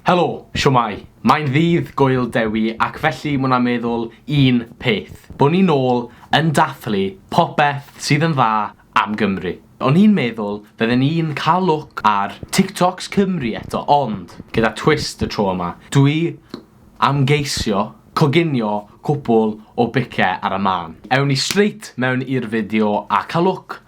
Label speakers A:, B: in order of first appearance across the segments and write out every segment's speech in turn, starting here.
A: Helo, shwmae? Mae'n ddydd Gŵyl Dewi ac felly mwna meddwl un peth, bo ni nôl yn dathlu popeth sydd yn dda am Gymru. O'n i'n meddwl fydden ni'n cael look ar TikToks Cymru eto ond gyda twist y tro yma. Dwi am geisio coginio cwpwl o bicau ar y mân. Ewn ni straight mewn i'r fideo a cael look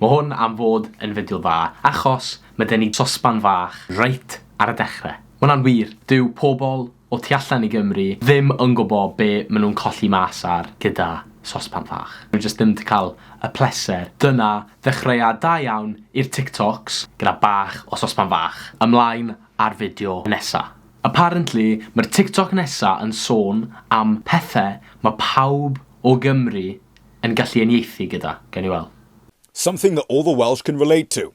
A: Mae hwn am fod yn fideo dda achos mae gen i sosban fach reit ar y dechre. Mae hwnna'n wir, dyw pobl o tu allan i Gymru ddim yn gwbo be ma nhw'n colli mas ar gyda sosban fach. Nhw jyst ddim 'di cael y pleser. Dyna ddechreuad da iawn i'r TikToks gyda bach o sosban fach. Ymlaen â'r fideo nesa. Apparently mae'r TikTok nesa yn sôn am pethe ma pawb o Gymru Yn gallu uniaethu gyda. Gawn ni wel'. Something that all
B: the Welsh can relate to.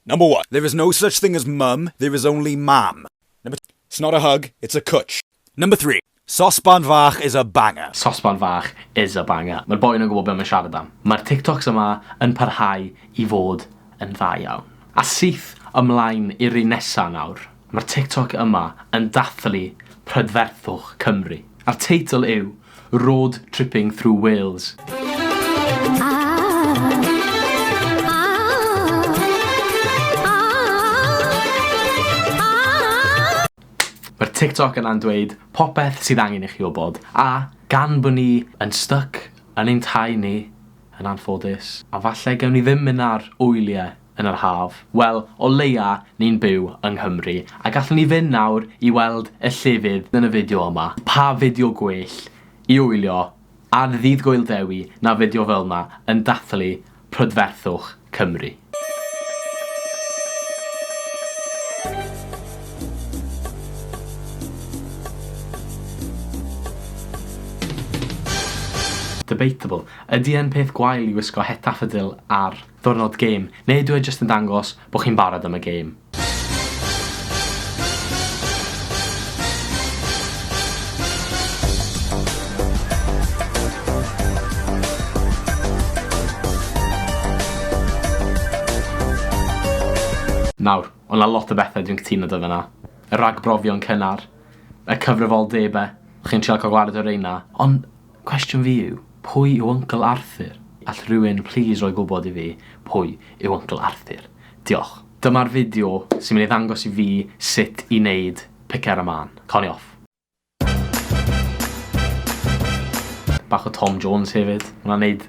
B: Number one, There is no such thing as mum, there is only mam. Number two, It's not a hug, it's a cwtsh. Number three, Sosban fach is a banger. Sosban fach
A: is a banger. Mae'r boi yna'n gwybod be mae'n siarad am. Mae'r TikToks yma yn parhau i fod yn dda iawn. A syth ymlaen i'r un nesa nawr. Mae'r TikTok yma yn dathlu prydferthwch Cymru. A'r teitl yw Road Tripping Through Wales. Mae'r TikTok yna'n dweud popeth sydd angen i chi wybod, a gan bod ni yn styc yn ein tai ni, yn anffodus, a falle gewn ni ddim mynd ar wyliau, yn yr haf? Wel, o leia ni'n byw yng Nghymru, a gallwn ni fynd nawr i weld y llefydd yn y fideo yma. Pa fideo gwell i wylio ar Ddydd Gŵyl Dewi na fideo fel 'ma yn dathlu prydferthwch Cymru. Debatable. Ydy e'n peth gwael i wisgo het daffodil ar Ddiwrnod gêm, neu ydyw e jyst yn dangos bod chi'n barod am y gêm? Nawr, o' 'na lot o bethe dwi'n cytuno 'da fe 'na. Y ragbrofion cynnar. Y cyfrifoldebe. Chi'n trial ca'l gwared o reina. Ond Cwestiwn fi yw, pwy yw Uncle Arthur? All rhywun plîs roi gwybod i fi pwy yw Uncle Arthur? Diolch. Dyma'r fideo sy'n mynd i ddangos i fi sut i wneud pic ar y mân. Cân i off. Bach o Tom Jones hefyd. Hwnna'n neud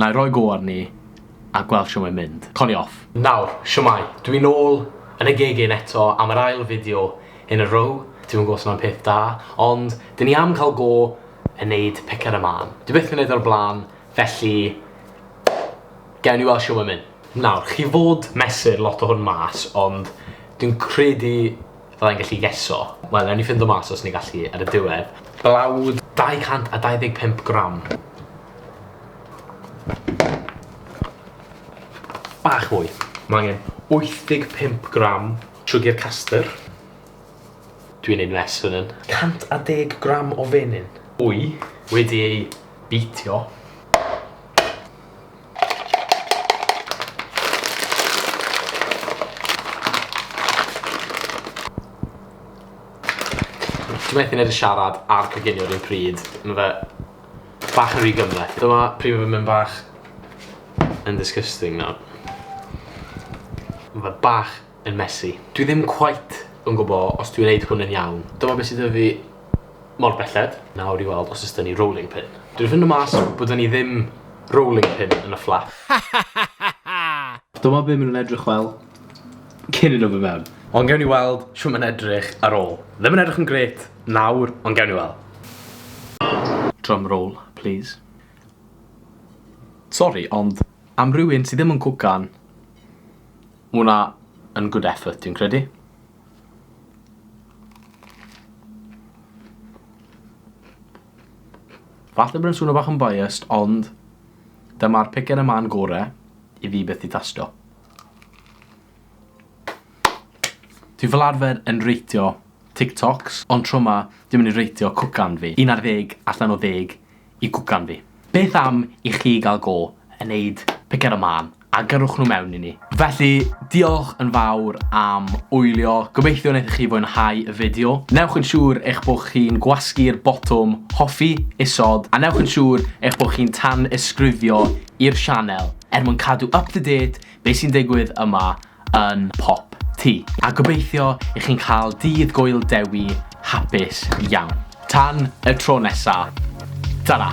A: Nai roi go arni a gweld shwt mae'n mynd. Colli off. Nawr, shwmae, dwi nôl yn y geg un eto am yr ail fideo in a row, dwi'm yn gwbo' os mae'n peth da, ond 'dyn ni am cael go yn neud pic ar y mân. Dwi byth 'di neud o o'r bla'n, felly gewn ni weld shwt mae'n mynd. Nawr, chi fod mesur lot o hwn mas, ond dwi'n credu Fydda i'n gallu geso. Wel, newn ni ffindo mas os ni gallu ar y diwedd. Blawd 225 gram. Bach mwy. Mae angen 85 gram siwgr castr. Dwi'n neud mess fan hyn. 110 gram o fenyn. Wy wedi ei beatio. Ti methu neud y siarad a'r coginio yr un pryd. Ma' fe bach yn rhy gymhleth. Dyma pryd ma' fe'n mynd bach yn disgusting nawr. Ma' fe bach yn messy. Dwi ddim cweit yn gwbo os dwi'n neud hwn yn iawn. Dyma be sy 'da fi mor belled. Nawr i weld os o's 'da ni rolling pin. Dwi'n ffindo mas bod 'da ni ddim rolling pin yn y fflat. Dyma be ma' nhw'n edrych fel cyn i nhw fyn mewn. Ond gewn ni weld shwt ma'n edrych ar ôl. Ddim yn edrych yn grêt nawr ond gewn ni weld. Drum roll plîs. Sori ond am rywun sy ddim yn cwcan Ma' wnna yn good effort dwi'n credu. Falle bod e'n swno bach yn biased ond dyma'r picken y man gore i fi byth 'di tasto. Dwi fel arfer yn reitio TikToks ond tro 'ma dwi'n mynd i reitio cwcan fi. Un ar ddeg allan o ddeg i gwp ganddi. Beth am i chi gael go yn neud piced o mân a gyrrwch nhw mewn i ni. Felly, diolch yn fawr am wylio, gobeithio wnaethoch chi fwynhau y fideo. Newch yn siŵr eich bod chi'n gwasgu'r botwm hoffi isod a newch yn siŵr eich bod chi'n tanysgrifio i'r sianel er mwyn cadw up to date Be sy'n digwydd yma yn Pop Tŷ. A gobeithio i chi'n cael dydd Gŵyl Dewi hapus iawn. Tan y tro nesa, tara!